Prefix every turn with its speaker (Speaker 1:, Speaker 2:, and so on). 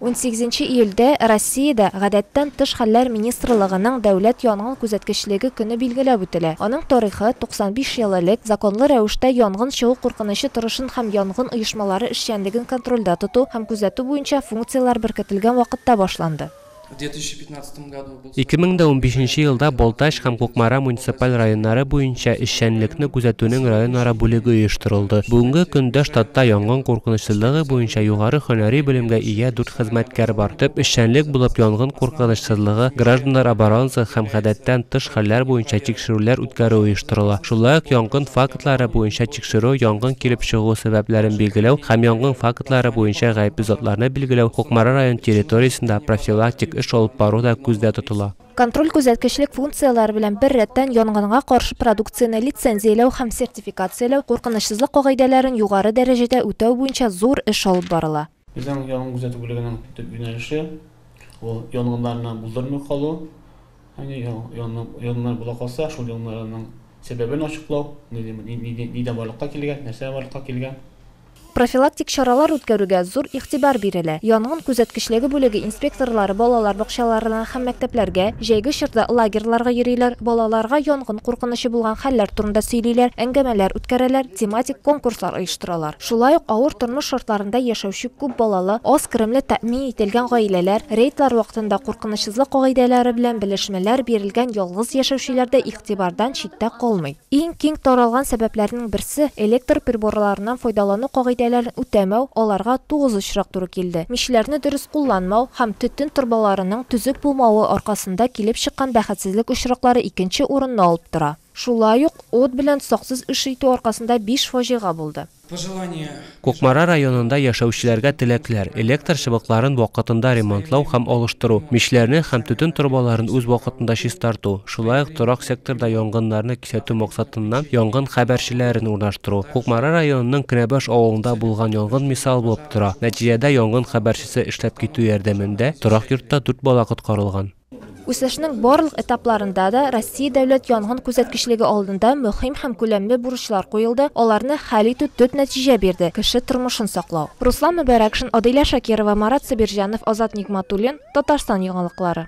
Speaker 1: Унсигезенче июльдә Россиядә Гадәттән тыш хәлләр министрлыгының дәүләт янгын күзәткечлеге көне билгеләп үтелә. Аның тарихы, 95 ел элек законлы рәвештә янгын чыгу куркынычы торышын һәм янгын оешмалары эшчәнлеген контрольдә тоту һәм күзәтү буенча функцияләр беркетелгән вакытта башланды. В 2015 году
Speaker 2: 2015 елда Балтач һәм Кукмара муниципаль районнары буенча эшчәнлекне күзәтүнең районара бүлеге оештырылды. Бүгенге көндә штатта янгын куркынычсызлыгы буенча югары һөнәри белемгә ия дүрт хезмәткәр бар. Төп эшчәнлек булып янгын куркынычсызлыгы, гражданнар оборонасы һәм гадәттән тыш хәлләр буенча тикшерүләр үткәрү оештырыла. Шулай ук янгын фактлары буенча тикшерү, янгын килеп чыгу сәбәпләрен билгеләү һәм янгын фактлары буенча гаепле затларны билгеләү, Кукмара район территориясендә профилактик эш алып бару да күздә тотыла. Контроль-күзәткечлек
Speaker 1: функцияләре белән беррәттән янганга каршы продукцияне лицензияләү һәм сертификацияләү, куркынычсызлык кагыйдәләрен югары дәрәҗәдә үтәү буенча зур эш алып барыла. Безнең янгын күзәтү
Speaker 3: бүлегенең төп юнәлеше, ул янгыннарны булдырмый калу. Ягъни янгыннар була калса, шул янгыннарның сәбәбен ачыклау, нидән барлыкка килгән, нәрсә барлыкка килгән. Профилактик
Speaker 1: чаралар үткәрүгә зур игътибар бирелә. Янгын күзәткечлеге бүлеге инспекторлары балалар бакчаларына һәм мәктәпләргә, җәйге чорда лагерьларга йөриләр, балаларга янгын куркынычы булган хәлләр турында сөйлиләр, әңгәмәләр үткәрәләр, тематик конкурслар оештыралар. Шулай ук авыр тормыш шартларында яшәүче күп балалы, аз керемле тәэмин ителгән гаиләләр, рейдлар вакытында куркынычсызлык кагыйдәләре белән белешмәләр бирелгән ялгыз яшәүчеләр дә игътибардан читтә калмый. Иң киң таралган сәбәпләрнең берсе, электр приборларыннан файдалану кагыйдәләрен үтәмәү, аларга тугыз очрак туры килде, мичләрне дөрес кулланмау һәм төтен торбаларының төзек булмавы аркасында килеп чыккан бәхетсезлек очраклары икенче урынны алып тора. Шулай ук ут белән саксыз эш итү аркасында биш фаҗига булды. Кукмара
Speaker 2: районында яшәүчеләргә теләкләр, электр чыбыкларын вакытында ремонтлау һәм алыштыру, мичләрне һәм төтен торбаларын үз вакытында чистарту, шулай ук торак секторда янгыннарны кисәтү максатыннан янгын хәбәрчеләрен урнаштыру. Кукмара районының Кенәбаш авылында булган янгын мисал булып тора, нәтиҗәдә янгын хәбәрчесе эшләп китү ярдәмендә торак йортта дүрт бала коткарылган. Үсешнең
Speaker 1: барлык этапларында да Россия дәүләт янгын күзәткечлеге алдында мөһим һәм күләмле бурычлар куелды, аларны хәл итү төп нәтиҗә бирде, кеше тормышын саклау. Руслан Мөбәрәкшин, Адилә Шакирова, Марат Сабирҗанов, Азат Нигъматуллин, Татарстан яңалыклары.